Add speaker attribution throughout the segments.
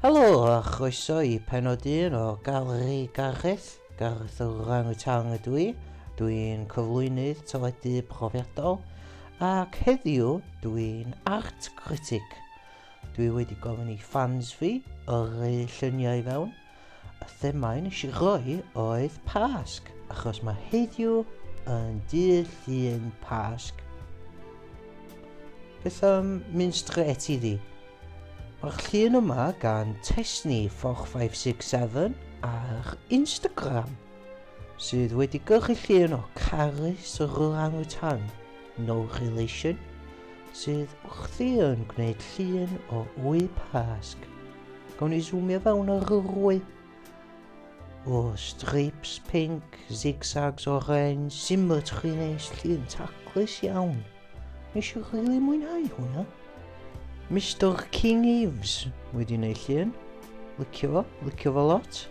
Speaker 1: Helo a chroeso i pennod un o Galeri Gareth, Gareth yr Orang-Utang ydw i, dw i'n cyflwynydd teledu profiadol ac heddiw dw i'n art critic. Dwi wedi gofyn i ffans fi yrru lluniau i fewn Y themâu nes i roi oedd Pasg, achos mae heddiw yn dydd llun Pasg. Beth am mynd straight i ddi? Mae'r llun yma gan Tesni 4567 ar Instagram sydd wedi gyrru llun o Carys yr Orangutan No Relation, sydd wrthi yn gwneud llun o wy pasg. Gawn ni zoomio fewn ar yr wy. O, strips pink, zigzags orange, symmetry neis, llun taclus iawn. Nes i rili really mwynhau hwnna. Mr King Eves wedi gwneud llun. Lycio fo, lycio fo lot.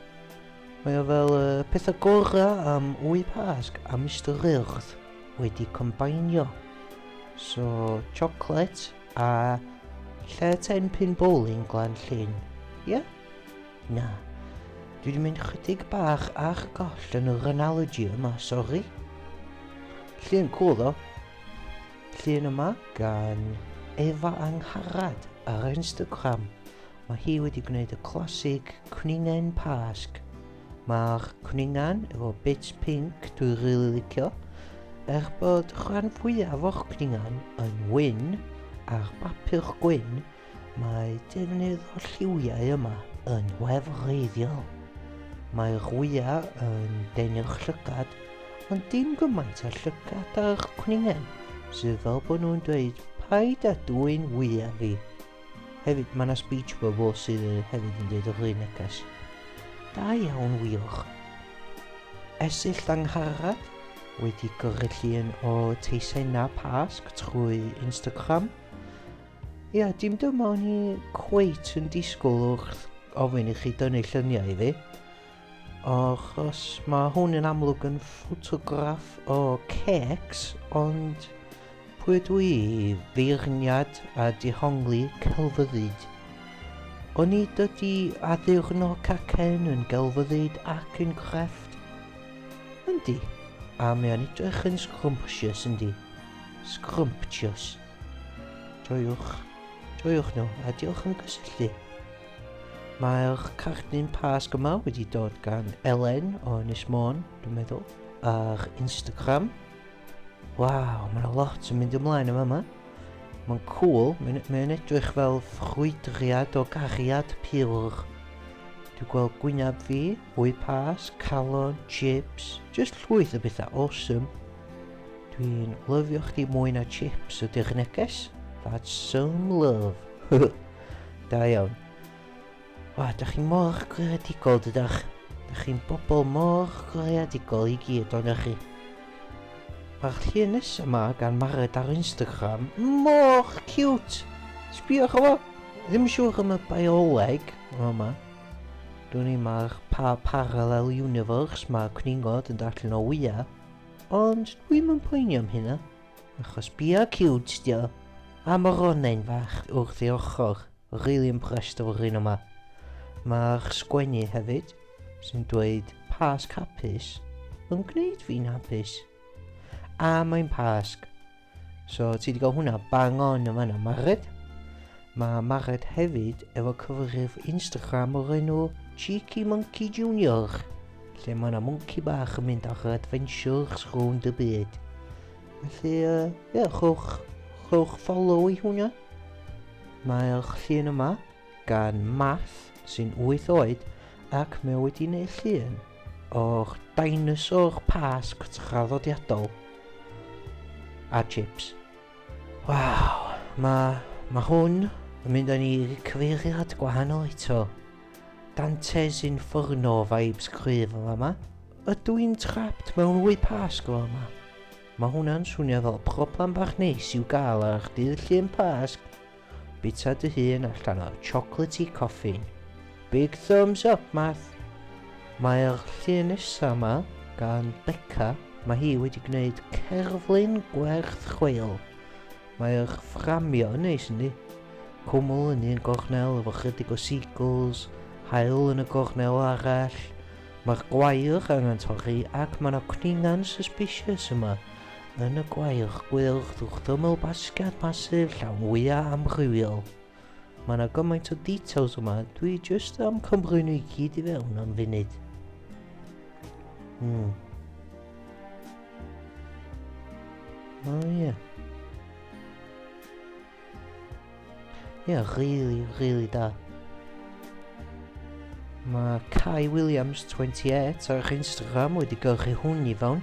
Speaker 1: Mae o fel uh, pethau gorau am wy pasg a Mr Earth. wedi combainio. So, chocolate a lle ten pin bowling glan llun. Ie? Yeah? Na. Dwi wedi mynd chydig bach a'ch goll yn yr analogy yma, sori. Llun cool ddo. Llun yma gan Efa Angharad ar Instagram. Mae hi wedi gwneud y classic cwningen pasg Mae'r cwningan efo bits pink dwi rili licio. Er bod rhan fwyaf o'r cwningan yn wyn ar bapur gwyn, mae defnydd o lliwiau yma yn wefreiddiol. Mae'r wyau yn denu'r llygad, ond dim gymaint â llygad ar cwningen, sydd fel bod nhw'n dweud paid â dwyn wyau fi. Hefyd, mae yna speech bubble sydd hefyd yn dweud yr neges. Da iawn, wych. Esill Langharad wedi gyrru llun o teisau na pasg trwy Instagram. Ia, dim dyma o'n i cweit yn disgwyl wrth ofyn i chi dynnu lluniau i fi. Achos mae hwn yn amlwg yn ffotograff o cecs, ond pwy ydw i i feirniad a dihongli celfyddyd? O'n i dydy addurno cacen yn gelfyddyd ac yn crefft? Yndi, a mae o'n edrych yn scrumptious yndi? Scrumptious. Joiwch, joiwch nhw, a diolch am gysylltu. Mae'r cardyn Pasg yma wedi dod gan Elen o Ynys Môn, dwi'n meddwl, ar Instagram. Waw, mae yna lot yn mynd ymlaen yma yma. Mae'n cool, mae'n mae edrych fel ffrwydriad o gariad pur. Dwi'n gweld gwynaf fi, hwy pas, calon, chips, just llwyth o bethau awesome. Dwi'n lyfio chdi mwy na chips ydy'r neges. That's some love. Da iawn. O, da chi mor greadigol, dydach. Da chi'n bobl mor greadigol i gyd o'n chi. Mae'r llun nesaf yma gan Mared ar Instagram mor cute! Sbiwch o fo! Ddim yn siŵr am y bioleg yma. Dwi'n ei mae'r pa parallel universe mae cwningod yn darllen o wyau. Ond dwi'n mynd poeni am hynna. Achos bia cute dio. A ma Ronain fach wrth ei ochr. Really impressed efo'r un yma. Mae'r sgwennu hefyd, sy'n dweud pasg hapus, yn gwneud fi'n hapus. A mae'n pasg. So ti wedi cael hwnna bang on yn fanna, Mared? Mae Margaret hefyd efo cyfrif Instagram o'r enw Cheeky Monkey Junior, lle mae yna mwnci bach yn mynd ar adventures rownd y byd. Felly, uh, yeah, chwch, chwch follow i hwnna. Mae'r llun yma gan Math sy'n 8 oed ac mae wedi gwneud llun o'r dinosaur pasg traddodiadol a chips. Waw, mae ma hwn yn mynd â ni i cyfeiriad gwahanol eto. Dante's Inferno vibes cryf yn fama. Ydw i'n trapped mewn wy pasg o yma? Mae hwnna'n swnio fel problem bach neis i'w gael ar eich dydd llun pasg. Bita dy hun allan o chocolatey coffin. Big thumbs up, Math! Mae'r llun nesa ma gan Becca, mae hi wedi gwneud cerflun gwerth chweil. Mae'r fframio yn neis yndi? Cwmwl yn un gornel efo chydig o seagulls, haul yn y gornel arall. Mae'r gwair angen torri ac mae yna cwningan suspicious yma. Yn y gwaelch gwyrdd wrth ymyl basged masif llawn wyau amrywiol. Mae yna gymaint o details yma, dwi jyst am cymru nhw i gyd i fewn am funud. Hmm. O oh, ie. Yeah. Ie, yeah, really, really da. Mae Kai Williams 28 ar Instagram wedi gyrchu hwn i fewn.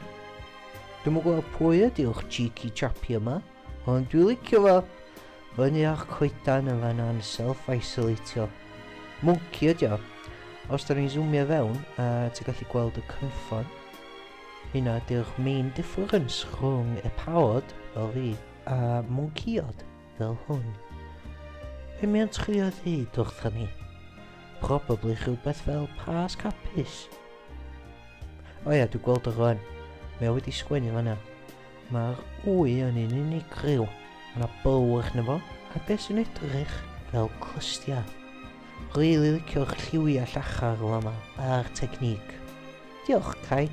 Speaker 1: Dwi'n gwybod pwy ydyw'ch cheeky chappy yma, ond dwi'n licio fo. Fyny ar coedan yn fanna'n self-isolatio. Mwnci ydi o. Os da ni'n zoomio fewn, a ti'n gallu gweld y cynffon, hynna ydy'r main difference rhwng y pawod fel fi a mwncïod fel hwn. Be mae'n trio ddeud wrthon ni? Probably rhywbeth fel Pasg Hapus. O ia, dwi'n gweld o rwan. Mae o wedi sgwennu fanna. Mae'r wy yn un unigryw. Mae yna bow arno fo, a beth sy'n edrych fel clystiau. Rili licio'r lliwiau llachar yma a'r technique. Diolch, Kai.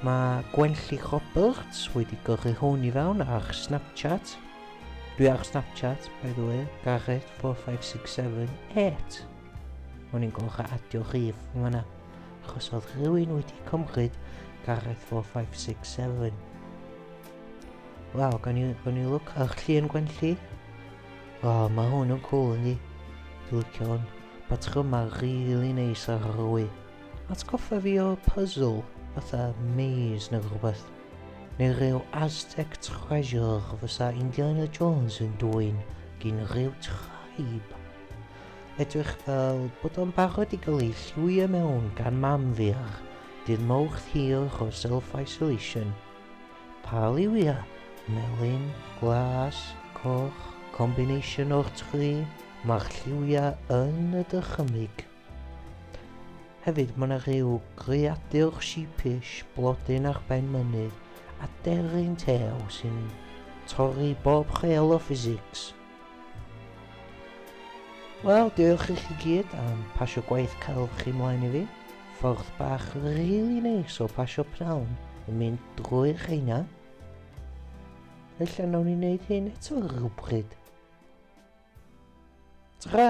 Speaker 1: Mae Gwenlli Roberts wedi gyrru hwn i fewn ar Snapchat. Dwi ar Snapchat, by the way, Gareth 45678. O'n i'n gorau adio rhif yn fanna, achos oedd rhywun wedi cymryd Gareth 4567. Wel, gan i, gan i look ar llun gwenlli. O, oh, mae hwn yn cool yndi. Dwi'n licio hwn. Patrymau rili really neis ar yr wy. Atgoffa fi o puzzle, fatha maze neu rhywbeth. Neu rhyw Aztec treasure fysa Indiana Jones yn dwy'n gyn rhyw traib. Edrych fel bod o'n barod i gael ei lliwio mewn gan mam fi ar dydd mawrth hir o self-isolation. Pa liwia? Melyn, glas, coch, combination o'r tri, mae'r lliwia yn y dychymyg. Hefyd mae yna rhyw greadur sheepish blodyn ar ben mynydd a deryn tew sy'n torri bob chel o physics. Wel, diolch i chi gyd am pasio gwaith cael chi mlaen i fi. Ffordd bach really neis o pasio pnawn yn mynd drwy'r rheina. Felly nawn ni wneud hyn eto rhywbryd. Tra!